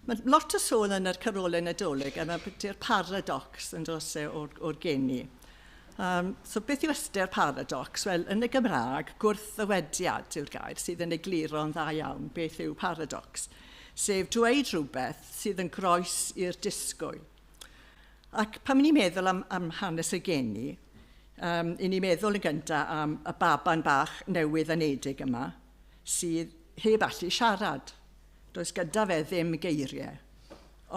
Mae lot o sôn yn yr Carolau Nadolig am ystyr paradox yn dros e o'r, o'r geni. Um, so beth yw ystyr paradox? Wel, yn y Gymraeg, gwrthddywediad yw'r gair sydd yn egluro'n dda iawn beth yw paradox, sef dweud rhywbeth sydd yn groes i'r disgwyl. Ac pan ni'n meddwl am, am hanes y geni, um, i ni meddwl yn gyntaf am y baban bach newydd anedig yma, sydd heb allu siarad. Does gyda fe ddim geiriau.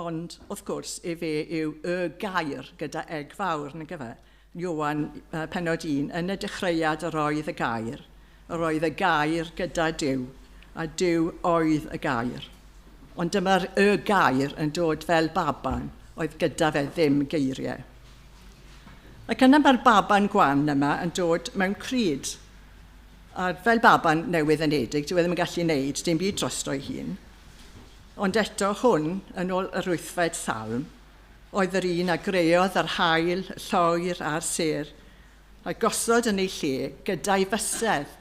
Ond, wrth gwrs, efe yw y gair gyda eg fawr, nag efe? Iowan, uh, penod un, yn y dechreuad yr oedd y gair, yr oedd y gair gyda Dyw, a Dyw oedd y gair. Ond dyma'r y gair yn dod fel baban oedd gyda fe ddim geiriau. Ac yna mae'r baban gwan yma yn dod mewn cryd. A fel baban newydd enedig, dyw e ddim yn gallu neud dim byd drosto ei hun. Ond eto, hwn, yn ôl yr wythfed salm, oedd yr un a greodd yr haul, y lloer a'r sêr, a gosod yn ei lle gyda'i fysedd.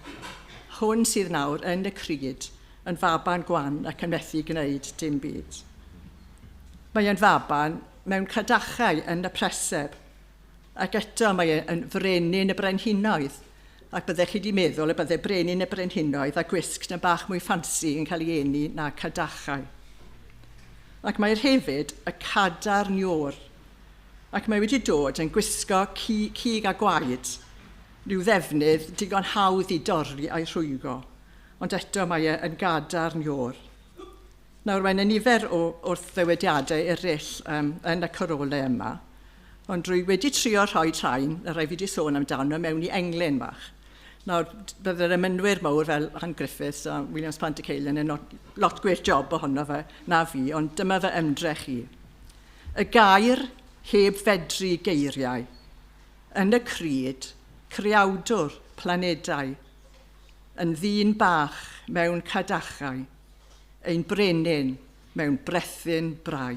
Hwn sydd nawr yn y cryd, yn faban gwan ac yn methu gwneud dim byd. Mae yn faban mewn cadachau yn y preseb, Ac eto, mae e yn frenin y brenhinoedd. Ac byddech chi wedi meddwl y bydde brenin y brenhinoedd a gwisg na bach mwy ffansi yn cael ei eni na cadachau. Ac mae'r hefyd y cadar niwr. Ac mae wedi dod yn gwisgo ci, cig a gwaed, rhyw ddefnydd digon hawdd i dorri a'i rhwygo. Ond eto mae e yn gadar niwr. Nawr, mae yna nifer o wrthddewediadau eraill um, yn y corolau yma, ond drwy wedi trio rhoi train, y rhaid fi wedi sôn amdano, mewn i englyn fach. Nawr, bydd yr ymynwyr mawr fel Han Griffiths a Williams Plant y Ceilen yn lot gwir job ohono fe na fi, ond dyma fy ymdrech i. Y gair heb fedru geiriau, yn y cryd, creawdwr, planedau, yn ddyn bach mewn cadachau, ein brenin mewn brethyn brau.